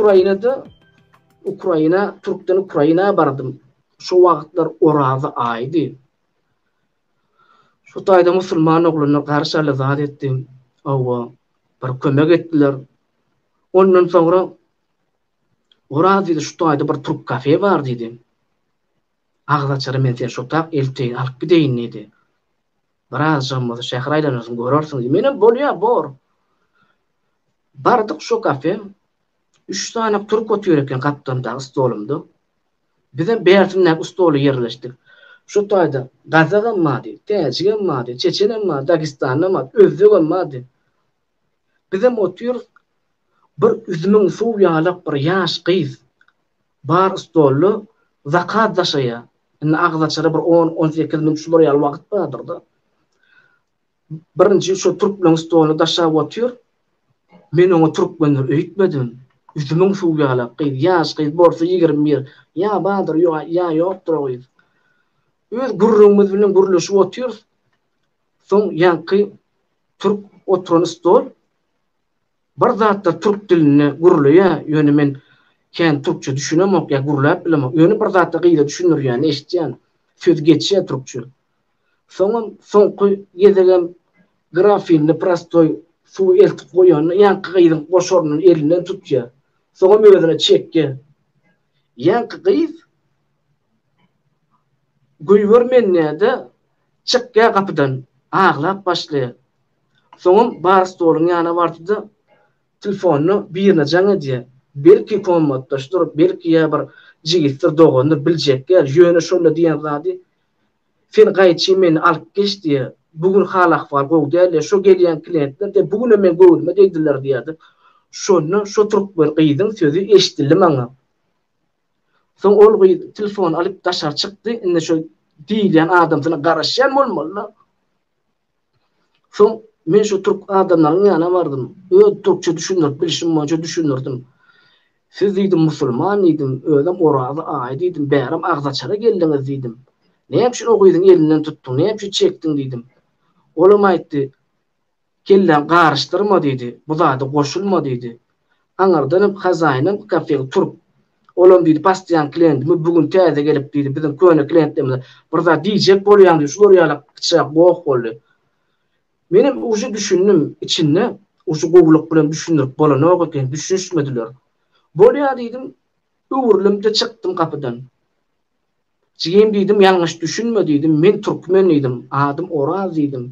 Ukrainada Ukraina, Türkden Ukraina bardım. Şu wagtlar Orazy aýdy. Şu taýda musulman ogluna garşaly zat etdim. Awa, bir kömek etdiler. Ondan soňra Oraz diýdi, şu taýda bir türk kafe bar diýdi. Agyz açara men seni şutap elteýin, alyp gideýin diýdi. Birazajygam bolsa şäher aýlanarsyň, görersiň diýdi. Menem bolýa, bor. Bardyk şo kafe. Üç sany türk otyr eken gapdalymdaky stolumda. Bizem bärsindäki stola ýerleşdik. Şo taýda gazagam bardy, täjigem bardy, çeçenem bardy, dagestanlym bardy, özbegem bardy. Bizem otyrys. Bir üzümiň suwy ýalak bir ýaş gyz Bar stolda zakaz daşaýar. Indi agzaçara bir on-on sekiz minut şular ýaly wagt bardyr-da. Birinji şo türkmeniň stoluna daşap otyr. Men oňa türkmendir öýtmedim. Üzümiň suwy ýalak gyz, ýaş gyz, bolsa ýigrimi bir. Ýa bardyr, ýa ýokdur o gyz. Öz gürrüňimiz bilen gürleşip otyrys. Soň ýaňky türk oturan stol Bir zatlar türk dilinde gürleýä ýöne men kän türkçe düşünemok ýa gürläp bilemok ýöne bir zatlar gyza düşündirýäni eşitýän söz geçýä türkçe soňam soňky gezegem grafinde prostoý suwy eltip goýanda ýaňky gyzyň goşarynyň elinden tutýa soňam özüne çekýä ýaňky gyz göýbermänýäde çykýa gapydan aglap başlaýa. Soňam bar stoluň ýana bardy-da, tlfonyna birine jaň edýär. Belki kommatdaşdyr, belki ýa bir jigisdir, dogandyr, biljek däl, ýöne şonda diýen zady, Sen gaýçy meni alyp geç diýýär. Bu gün hal-ahwal gowy däl-le, şo gelýän kliýentler de bu günem meň göwnüme degdiler diýýär-de. Şonda şo türkmen gyzyň sözi eşidildi maňa. Soň ol gyz tlfony alyp daşary çykdy, indi şo diýilýän adamsyna garaşýan bolmaly-la. Soň men şu türk adamlaryň ýanyna bardym. Öz türkçe düşündirip bilişim boýunça düşündirdim. Siz diýdim musulman diýdim, özem Oraza aýy diýdim, bärem agzaçara geldiňiz diýdim. Näme üçin o gyzyň elinden tutduň, näme üçin çekdiň diýdim. Olam aýtdy, Kelläň garyşdyrma diýdi, bu zada goşulma diýdi. Aňyrdanam hazaýynam kafeň turup, olam diýdi, Basdýan klientimiz bu gün täze gelip diýdi, biziň köne klientlerimize bir zat diýjek bolýan diýdi, şular ýaly içjek goh boldy. Menem uje düşündim, içinde uje gowulyk bilen düşündirip bolanok eken, düşünişmediler. Bolýa diýdim, öwrülimde çykdym gapydan. Jigim diýdim, ýalňyş düşünme diýdim, men türkmen diýdim, adym Oraz diýdim.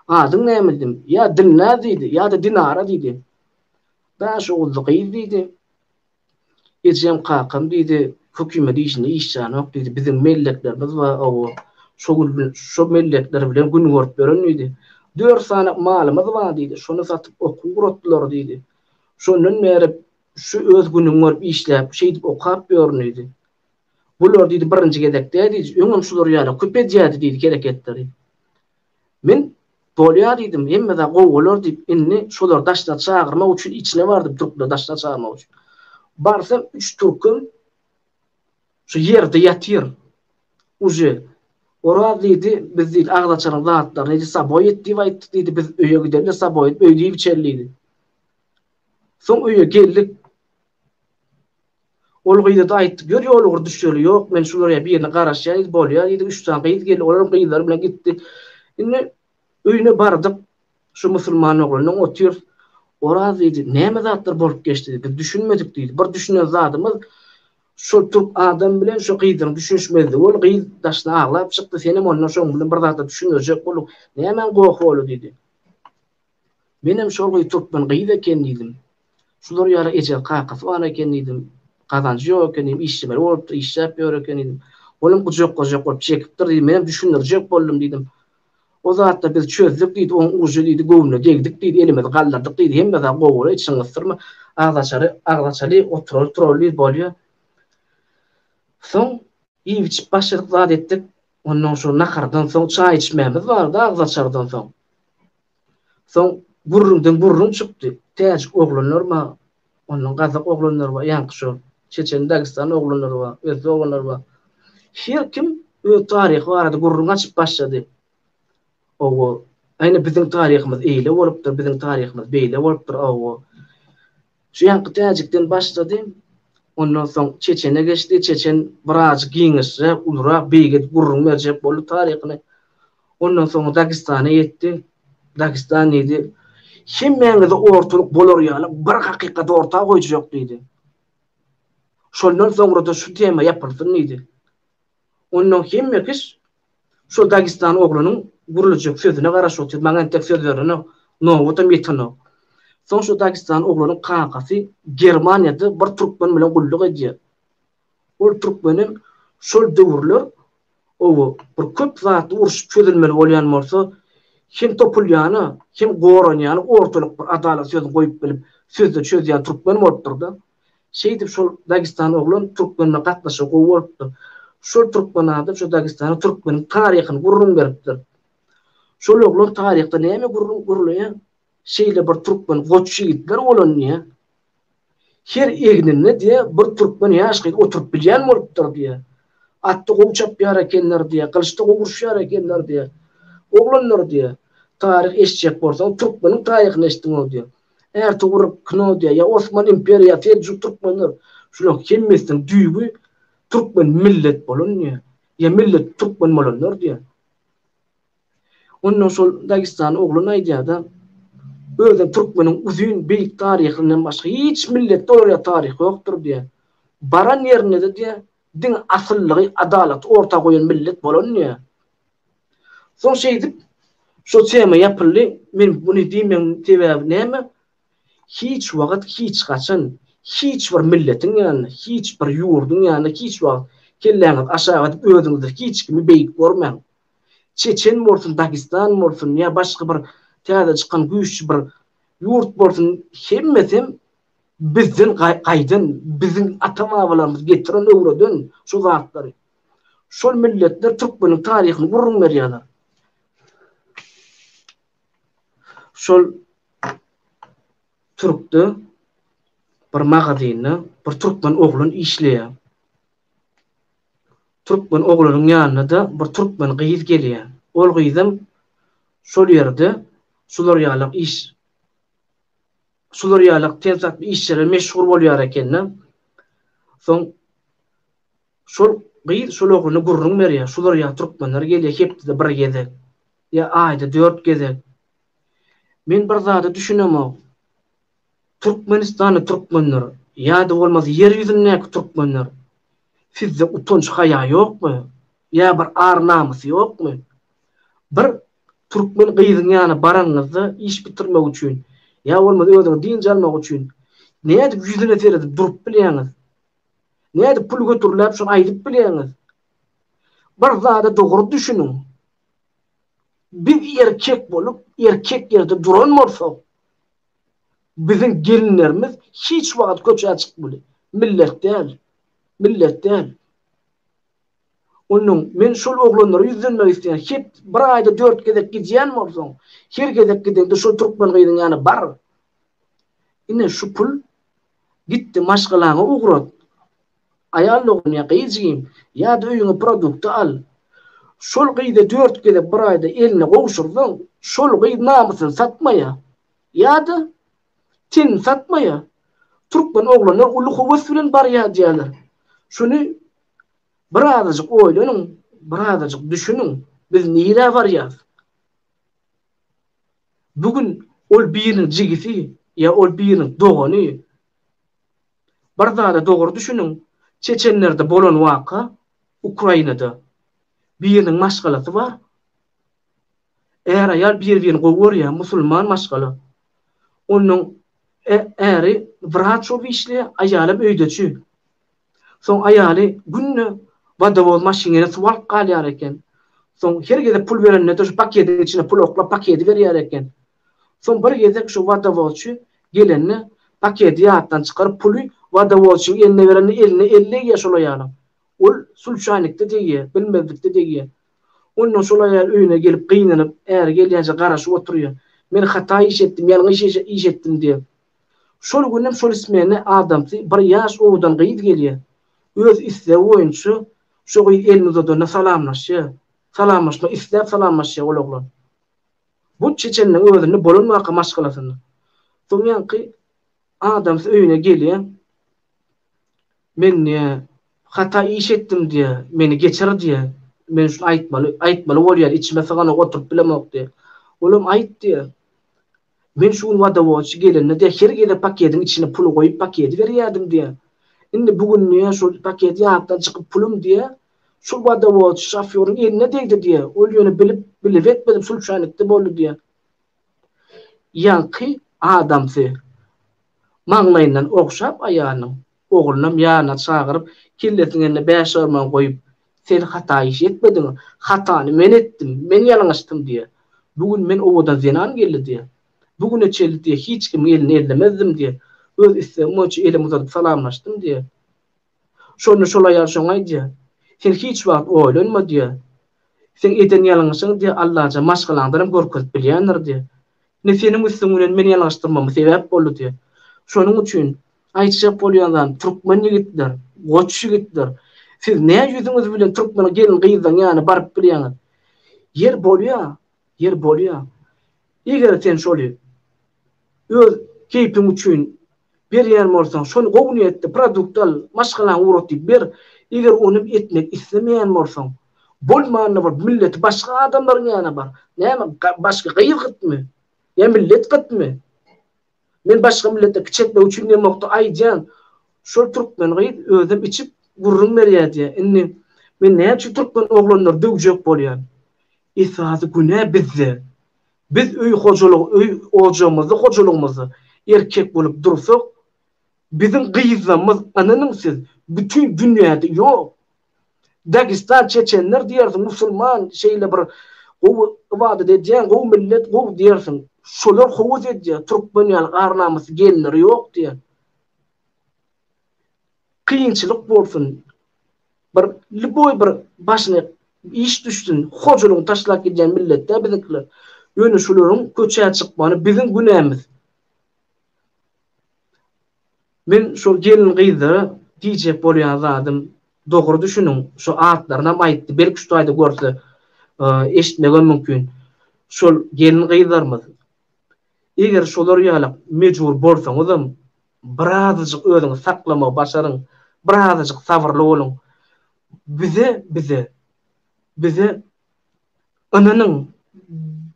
Adyň näme diýdim, ýa Dilnaz diýdi, ýa-da Dinara diýdi. Daşoguzly gyz diýdi, Ejem-kakam diýdi, hökümet işinde iş janok diýdi, biziň melleklerimiz bar, hawa, şo gün bilen, şo mellekler bilen gün görüp ýören diýdi. Dört sany malymyz bar diýdi, şony satyp okuw guratdylar diýdi. Şondan bäri şu öz günüňi görüp işläp, şeýdip okap ýörün diýdi. Bular diýdi birinji gezek däl diýdi, öňem şular ýaly köp edýärdi diýdi hereketleri. Men, Bolýar diýdim, hemme zat gowy bolar diýip, indi şolary daşlary çagyrmak üçin içine bardym, türkleri daşlary çagyrmak üçin. Barsam, üç türkem şu ýerde ýatyr. Uje, Oraz diýdi, biz diýdi, agzaçaryň zatlaryny diýdi, saboý et diýip aýtdyk diýdi, biz öýe gideli-de saboý edip öýde iýip-içeli diýdi. Soň öýe geldik. Ol gyza-da aýtdy, Gör, ýol ugur düşeli ýok, men şulara birine garaşýan diýdi, bolýa diýdi, üç sany gyz geldi, olar hem gyzlary bilen gitdi. Indi öýüne bardyk, şu musulman oglandan otyrys. Oraz diýdi, Näme zatlar bolup geçdi diýdi, biz düşünmedik diýdi, bir düşünen zadymyz, şol türk adam bilen şu gyzyň düşünişmezligi boldy, gyz daşyna aglap çykdy, senem ondan şoň bilen bir zatlar düşündirjek bolduň, nämäň gohy boldy diýdi. Menem şol gyz türkmen gyz eken diýdim. Şular ýaly eje, kakasy bar eken diýdim. Gazanjy ýok eken diýdim. Işlemeli bolupdyr, işläp ýör eken diýdim. Olam gujakgajak bolup çekipdir diýdim. Menem düşündirjek boldum diýdim. O zatda biz çözdük diýdi. Oň ujy diýdi göwnüne degdik diýdi. Elimizi galdyrdyk diýdi. Hemme zat gowy bolýar, içiňi gysdyrma. Agzaçary, agzaçaly oturaly, turaly diýdi, bolýar. Soň iýip-içip başladyk, zat etdik. Onnoň şo nahardan soň çaý içmämiz bardy agzaçardan soň. Soň gürrüňden gürrüň çykdy. Täjik oglanlar bar, ondan gazak oglanlar bar, ýaňky şo çeçen, dagestan oglanlar bar, özbek oglanlar bar. Her kim öz taryhy barada gürrüň açyp başlady. Owo, ine biziň taryhymyz eýle bolupdyr, biziň taryhymyz beýle bolupdyr, owo. Şu ýanky täjikden başlady, ondan soň çeçene geçdi, çeçen biraz giňişräk, ulurak, beýige gürrüň berjek boldy taryhyny. Ondan soň Dagestana ýetdi. Dagestan diýdi, Hemmäňize ortalyk bolar ýaly bir hakykat orta goýjak diýdi. Şondan soňra-da şu tema ýapylsyn diýdi. Onnoň hemme kis şo Dagestan oglanyň gürlejek sözüne garaşyp otyr, maňa entek söz berenok, nobatam ýetenok. Soň şo Dagestan oglanyň kakasy Germaniýada bir türkmen bilen gulluk edýär. Ol türkmenem şol döwürler owo bir köp zatly uruşyp çözülmeli bolýan bolsa, hem topulýany, hem goranýany ortalyk bir adalat sözüni goýup bilip, sözde çözýän türkmen bolupdyr-da. Şeýdip şol Dagestan oglan Türkmenle gatnaşygy gowy bolupdyr. Şol Türkmen adam şu Dagestana Türkmeniň taryhyny gürrüň beripdir. Şol oglan taryhda näme gürrüň gürleýär? Şeýle bir Türkmen goç ýigitler bolan diýýär. Her egninde diýýär bir Türkmen ýaş gyz oturyp bilýän bolupdyr diýýär. Atda gowy çapýar ekenler diýýär, gylyçda gowy uruşýar ekenler diýýär. Oglanlar diýýär, taryh eşitjek bolsaň Türkmeniň taryhyny eşitdiň-ow diýýär. Ertugrul Knodýa ýa Osman imperiýasy seljuk türkmenler şularyň hemmesiniň düýbi türkmen millet bolan diýýär. Ýa millet türkmen bolanlar diýýär. Onda şol Dagestany oglan aýdýarda özem türkmeniň uzyn beýik taryhyndan başga hiç milletde olar ýaly taryh ýokdur diýýär. Baran ýerinde-de diýýär diňe asyllygy, adalaty orta goýan millet bolan diýýär. Soň şeýdip, şo tema ýapyldy. Men muny diýmegiň sebäbi näme? Hiç wagt, hiç haçan, hiç bir milletiň ýanynda, hiç bir ýurduň ýanynda hiç wagt kelläňizi aşak edip, özüňizden hiç kimi beýik görmäň. Çeçen bolsun, Dagestan bolsun ýa başga bir täze çykan güýçli bir ýurt bolsun, hemmesem bizden gaýdan, biziň ata-babalarymyz getiren, öwreden şo zatlary. Şol milletler türkmeniň taryhyny gürrüň berýärler. Şol türkde bir magazynda bir türkmen oglan işleýär. Türkmen oglanyň ýanyna-da bir türkmen gyz gelýär. Ol gyzam şol ýerde şular ýalak iş şular ýalak tensaply işlere meşgul bolýar ekeni. Soň Şol gyz şol oglana gürrüň berýär, şular ýaly türkmenler gelýär hepdede bir gezek, ýa aýda dört gezek. Men bir zada düşünemok. Türkmenistanly türkmenler, ýa-da bolmasa ýer ýüzündäki türkmenler, sizde utanç-haýa ýokmy? Ýa bir ar-namys ýokmy? Bir türkmen gyzyň ýanyna baranyňyzda iş bitirmek üçin, ýa bolmasa özüňiz dynç almak üçin, nädip ýüzüne seredip durup bilýäňiz? Nädip pul götüriläp şony aýdyp bilýäňiz? Bir zada dogry düşüniň. Biz erkek bolup, erkek ýerde duran bolsak, biziň gelinlerimiz hiç wagt köçä çykmaly. Millet däl. Millet däl. Onnoň men şol oglanlara ýüzlenmek isleýän. Hep bir aýda dört gezek gidýän bolsaň, her gezek gideňde şol türkmen gyzyň ýana bar. Ine şu pul Gitdi maşgalaňy ugrat. Aýal dogan ýa gyz jigim, ýa-da öýüňe produkty al. Şol gyza dört gezek bir aýda elini gowşursaň, şol gyz namysyny satmaýar. Ýa-da, tenini satmaýar. Türkmen oglanlar uly höwes bilen barýar diýýärler. Şuny birazajyk oýlanyň, birazajyk düşüniň, biz nirä barýarys? Bu gün ol biriniň jigisi ýa ol biriniň dogany. Bir zada dogry düşüniň, çeçenlerde bolan waka, Ukrainada. Biriniň maşgalasy bar. Är-aýal bir-birini gowy görýär, musulman maşgala. Onuň äri wraç bolup işleýär, aýalam öýdeçi. Soň aýaly günde wodowoz maşynyna suw alyp galýar eken. Soň her gezek pul berende-de şu paketiň içine pul oklap paketi berýär eken. Soň bir gezek şu wodowozçy gelende paketi ýatdan çykaryp puly wodowozçyň eline berende eline el degýär şol aýalyň. Ol sulçaýnikde degýär, bilmezlikde degýär. Ondan şol aýal öýüne gelip gynanyp, äri gelýänçä garaşyp oturýar. Men hata iş etdim, ýalňyş iş etdim diýip. Şol günem şol ismenä adamsy bir ýaş owadan gyz gelýär. Öz islegi boýunça şo gyz elini uzadanda salamlaşýar. Salamlaşmak isläp salamlaşýar ol oglan. Bu çeçeniniň özünde bolan waka maşgalasynda. Soň ýaňky adamsy öýüne gelýär. Men diýýär, hata iş etdim diýýär, meni geçir diýýär. Men şuny aýtmaly, aýtmaly bolýar, içime syganok, oturyp bilemok diýýär. Olam aýt diýýär. Men şu gün wodowodçy gelende-de her gezek pakediň içine puly goýup pakedi berýärdim diýýär. Indi bu günde şol paket ýatdan çykyp pulum diýýär. Şol wodowodçy şofýoryň eline degdi diýýär. Ol ýöne bilip, bilip etmedim sulçaýnykda boldy diýýär. Ýaňky adamsy maňlaýyndan ogşap aýalynyň Oglunam ýanyna çagyryp, kellesiniň eline bäş arman goýup, Sen hata iş etmediň, hatany men etdim, men ýalňyşdym diýýär. Bu gün men owadan zenan geldi diýýär. Bu güne çenli diýýär, hiç kimiň elini ellemezdim diýýär. Öz islegim boýunça elimi uzadyp salamlaşdym diýýär. Şonda şol aýal şoňa aýdýar, Sen hiç wagt oýlanma diýýär. Seň eden ýalňyşyňy diýýär, Allajan maşgalaňdanam görkezip bilýändir diýýär. Ine seniň üstüň bilen meni ýalňyşdyrmama sebäp boldy diýýär. Şonuň üçin Aýtjak bolýan zat, türkmen ýigitler, goç ýigitler, siz nä ýüzüňiz bilen türkmen gelin-gyzlaryň ýanyna baryp bilýäňiz? Ýer bolýa, ýer bolýa. Eger sen şoly öz keýpiň üçin berýän bolsaň, şony gowy niýetde produkt al, maşgalaňy ugrat diýip ber. Eger ony etmek islemeýän bolsaň, bolmanda bolup milleti başga adamlaryň ýanyna bar. Näme, başga gyz gytmy? Ýa millet gytmy? Men başga millete kiçi etmek üçin diýemokda aýdýan şol türkmen gyz özem içip gürrüň berýä diýä indi men näme üçin türkmen oglanlary döwjek bolýan esasy günä bizde biz öý hojalygy öý ojamyzda hojalygymyzda erkek bolup dursak biziň gyzlamyz ynanyň siz bütin dünýäde ýok. Dagistan çeçenler diýersiň musulman şeýle bir gowy ybadat edýän gowy millet gowy diýersiň şolar howuz edýär türkmen ýaly ar namysly gelinleri ýok diýen kynçylyk bolsun bir liboý bir başyna iş düşsün hojalygyny taşlap gidýän millet däl biziňkiler ýöne şolaryň köçä çykmany biziň günämiz. Men şo gelin gyzlara diýjek bolýan zadym dogry düşüniň şo atlarynam aýtdy belki şu taýda görse eşitmegem mümkin şol gelin gyzlarymyz eger şolar ýalak mejbur bolsaňyzam birazajyk özüňizi saklamagy başaryň birazajyk sabyrly boluň bize bize bize Ynanyň,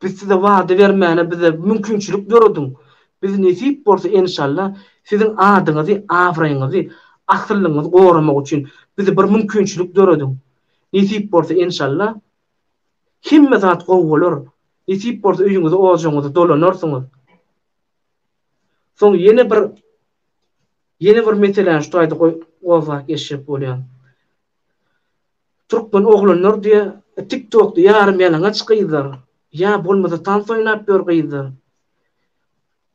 biz size wada bermäne bize mümkinçilik dörediň. Biz nesip bolsa enşalla siziň adyňyzy, abraýyňyzy, asyllygyňyzy goramak üçin bize bir mümkinçilik dörediň. Nesip bolsa enşalla hemme zat gowy bolar. Nesip bolsa öýüňize ojagyňyza dolanarsyňyz. Soň ýene bir ýene bir meseläni şu taýda gozgap geçjek bolýan. Türkmen oglanlar diýe tiktokda ýarym ýalaňaç gyzlar ýa bolmasa tans oýnap ýör gyzlar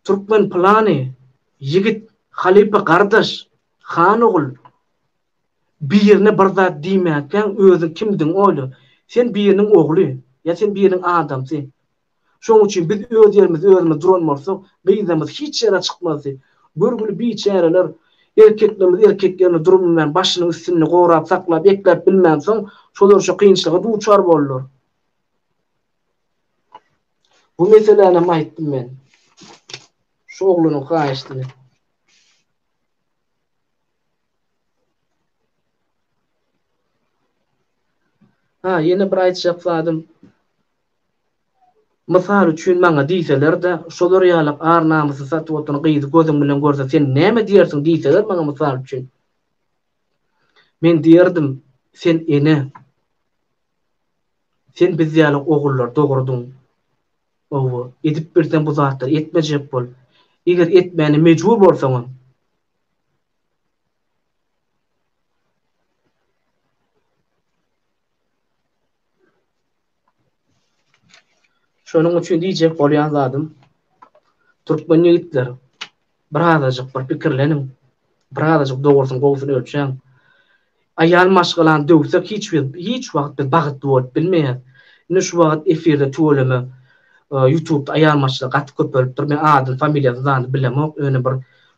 Türkmen pylany ýigit halypa gardaş han ogul birine bir zat diýmäkäň özüň kimdigiňi oýla sen biriniň ogly ýa sen biriniň adamsy Şonuň üçin biz öz ýerimizde özümiz duran bolsak, gyzlarymyz hiç ýere çykmazdy. Görgüli biçäreler erkeklerimiz erkek ýerinde durbilmän, başynyň üstünde gorap saklap, ekläp bilmänsoň, şolar şu kynçylyga duçar boldular. Bu meselänam aýtdym men şu oglanyň haýyşdyny. Ha, ýene bir aýtjak zadym, Mysal üçin maňa diýseler-de, şolar ýaly ar-namysy satyp oturan gyzy gözüň bilen görseň sen näme diýersiň diýseler maňa mysal üçin. Men diýerdim, sen ene. Sen biz ýaly ogullary dogurdyň. Howwa, edip bilseň bu zatlary etmejek bol. Eger etmäne mejbur bolsaňam. Şonuň üçin diýjek bolýan zadym, türkmen ýigitler, birazajyk bir pikirleniň, birazajyk dogrusyny gowusyny ölçäň. Aýal maşgalany döwsek hiç bir hiç wagt biz bagtly bolup bilmeýäs. Ine şu wagt efirde tüweleme ýutubda aýal maşgala gaty köpelipdir. Men adyny familiýasyny zany bilemok, ýöne bir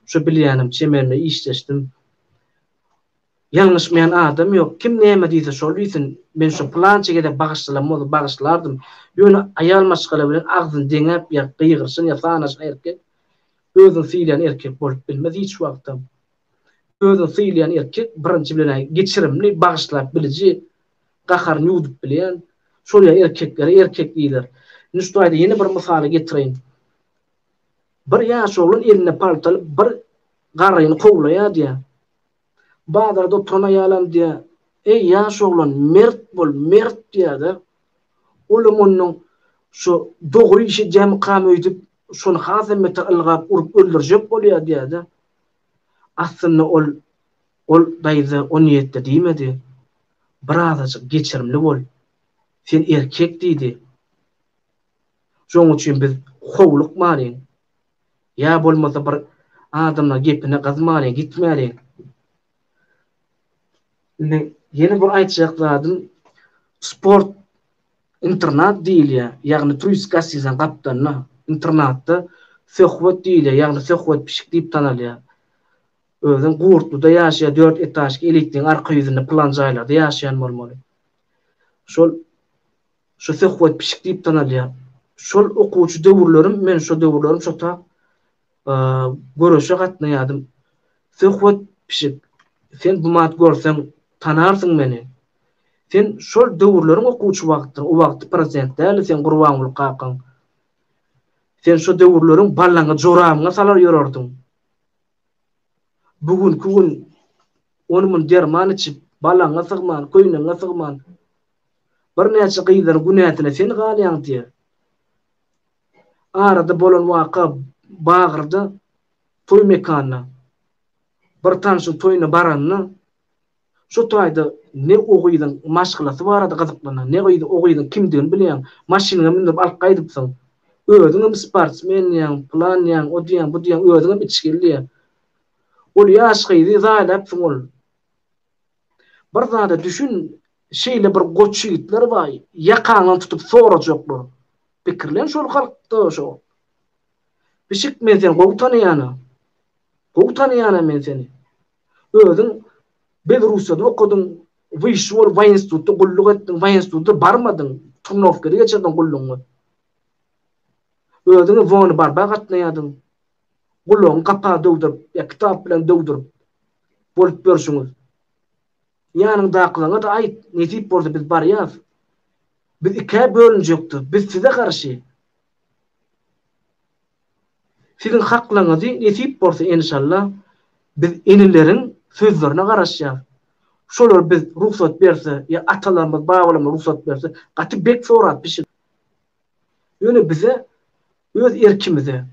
şu bilýänim çemenime işleşdim. Ýalňyşmaýan adam ýok, kim näme diýse şol diýsin, men şo pylança gezek bagyşlalam bolsa bagyşlardym, ýöne aýal maşgala bilen agzyny deňäp ýa gygyryşan ýa sanaşan erkek özüni sylaýan erkek bolup bilmez hiç wagtam. Özüni sylaýan erkek birinji bilenä geçirimli, bagyşlap biliji, gaharyny ýuwdup bilýän, şol ýa erkeklere erkek diýiler. Indi şu taýda ýene bir mysaly getireýin. Bir ýaş oglan eline palta alyp bir garryny kowlaýar diýä. Bazarda oturan aýalam diýýär, Eý, ýaş oglan, mert bol, mert diýýär-de. Olam ondan Şu dogry iş edýämikam öýdüp, şony hasam beter ylgap, urup öldürjek bolýar diýýär-de. Aslynda ol Ol daýza o niýetde diýmedi. Birazajyk geçirimli bol. Sen erkek diýdi. Şonuň üçin biz howlukmalyň. Ýa bolmasa bir adamlar gepine gyzmaly gitmeli. Indi ýene bir aýtjak zadym sport internat diýilýär. Ýagny turistik gastinisaň gapdalynda internatda söhbet diýilýär. Ýagny söhbet pişik diýip tanalýar. Özem Gurtluda ýaşaýar, dört etažki elitniň arka ýüzünde pylan jaýlarda ýaşaýan bolmaly. Şol Şo Söhbet pişik diýip tanalýar. Şol okuwçy döwürlerim, men şo döwürlerim şota göreşe gatnaýardym. Söhbet pişik, sen bumat görseň, tanarsyň meni. Sen şol döwürleriň okuwçy wagtyň, o wagty prosent däldi seň Gurbanguly kakaň. Sen şo döwürleriň ballaňy joramyňa salar ýörerdiň. Bu günki gün ony-muny derman içip, balaňňa sygman, köýneňňe sygman, Birnäçe gyzlar günäsine sen galýaň diýer. Arada bolan waka Bagyrda toý mekanyna bir tanşyň toýuna baranda şu taýda ne o gyzyň maşgalasy barada gyzyklanýaň, ne gyz o gyzyň kimdigini bilýäň, maşynyňa mündürip alyp gaýdypsyň. Özüňem sportsmen diýýäň, plan diýýäň, o diýýäň, bu diýýäň, özüňem içgili diýýäň. Ol ýaş gyzy zaýlapsyň ol. Bir zada düşün, şeýle bir goç ýigitler bar, ýakaňdan tutup sorajaklar. Pikirlen şol hakda, şo. Pişik men seni gowy tanaýana. Gowy tanaýana men seni. Özüň Belrussiýada okadyň, wyşşy bolup waýinstitutda gulluk etdiň, waýinstitutda barmadyň, turnowkada geçirdiň gullugyňy. Özüňi wony barba gatnaýardyň. gulagyňy gapa döwdürip ýa kitap bilen döwdürip bolup ýörşüňiz. Ýanyňdakylaňa-da aýt, nesip bolsa biz barýas. Biz ikä bölünjekdiz, biz size garşy. Siziň haklaňyzy nesip bolsa enşalla biz inileriň sözlerine garaşýas. Şolar biz rugsat berse ýa atalarymyz, babalarymyz rugsat berse gaty bek sorap pişik. Ýöne bize Öz erkimize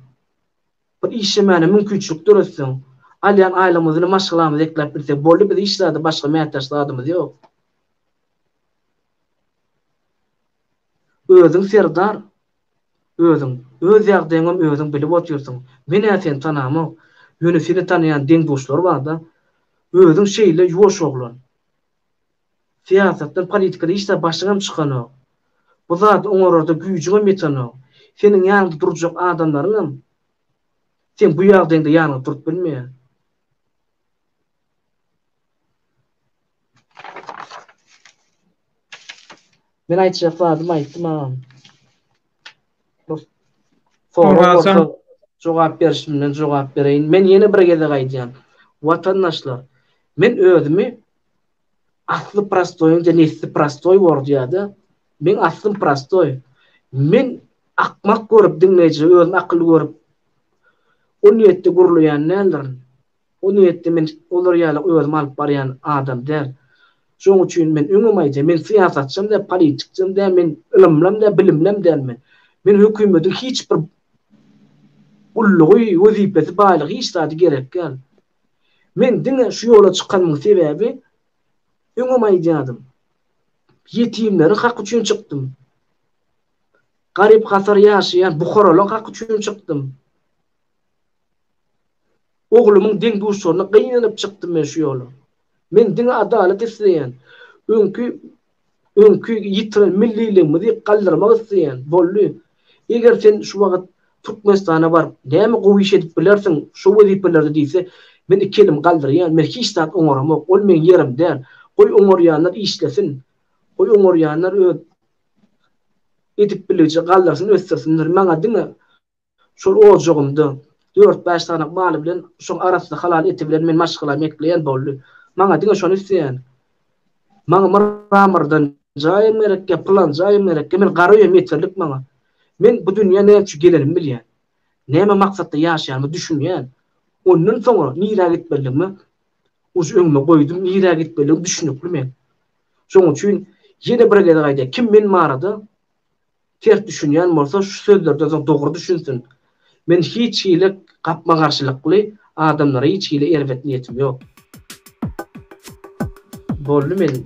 bir işlemäne mümkinçilik döretseň, alýan aýlygymyzy maşgalamyza ekläp bilsek boldy, biz hiç zada başga mätäç zadymyz ýok. Özüň serdar, özüň. Öz ýagdaýyňam özüň bilip otyrsyň. Men-ä seni tanamok. Ýöne seni tanaýan deň-duşlar bar-da. Özüň şeýle ýuwaş oglan. Syýasatdan, politikadan hiç zat başyňam çykanok. Bu zady oňararda güýjüňem ýetenok. Seniň ýanyňda durjak adamlaryňam seň bu ýagdaýyňda ýanyňda durup bilmeýär. Men aýtjak zadymy aýtdym agam. Sorag bolsa jogap berişimden jogap bereýin. Men ýene bir gezek aýdýan. Watandaşlar, men özümi Asly prostoýyňja nesli prostoý bordýada. Meň aslym prostoý. Men akmak görüp diňleýjä özüm akylly görüp o niýetde gürleýän däldirin. O niýetde men olar ýaly özüm alyp barýan adam däl. Şoň üçin men öňem aýdýan men syýasatçam däl politikçam däl men ylymlam däl bilimlem däl men. Men hökümediň hiç bir gullugy wezipesi baýlygy hiç zady gerek däl. Men diňe şu ýola çykanymyň sebäbi, öňem aýdýardym, ýetimleriň haky üçin çykdym. Garyp-gasar ýaşaýan buharalaryň haky üçin çykdym. Oglumyň deň-duşlaryna gynanyp çykdym men şu ýola. Men diňe adalat isleýän. Öňki Öňki ýitiren milliligimizi galdyrmak isleýän, boldy. Eger sen şu wagt Türkmenistana baryp, näme gowy iş edip bilersiň şu wezipelerde diýse, men iki elimi galdyrýan, men hiç zat oňaramok, ol meň ýerim däl. Goý oňarýanlar işlesin. Goý oňarýanlar öz edip biliji galdyrsyn, ösdürsinler. Maňa diňe Şol ojagymda dört-bäş sanyk maly bilen, şoň arassa halal eti bilen men maşgalamy ekleýän boldy. Maňa diňe şony isleýän. Maňa myra-myrdan jaýym gerekkä, pylan jaýym gerekkä, men gara öýem ýeterlik maňa. Men bu dünýä näme üçin gelenimi bilýän. Näme maksatda ýaşaýanyma düşünýän. Ondan soňra nirä gitmelidigimi ujy öňüme goýdum, nirä gitmelidigim düşünikli men. Şoň üçin ýene bir gezek aýdaýan, kim men barada ters düşünýän bolsa şu sözlerden soň dogry düşünsin. Men hiç hili gapma-garşylykly adamlara hiç hili erbet niýetim ýok. Boldy men.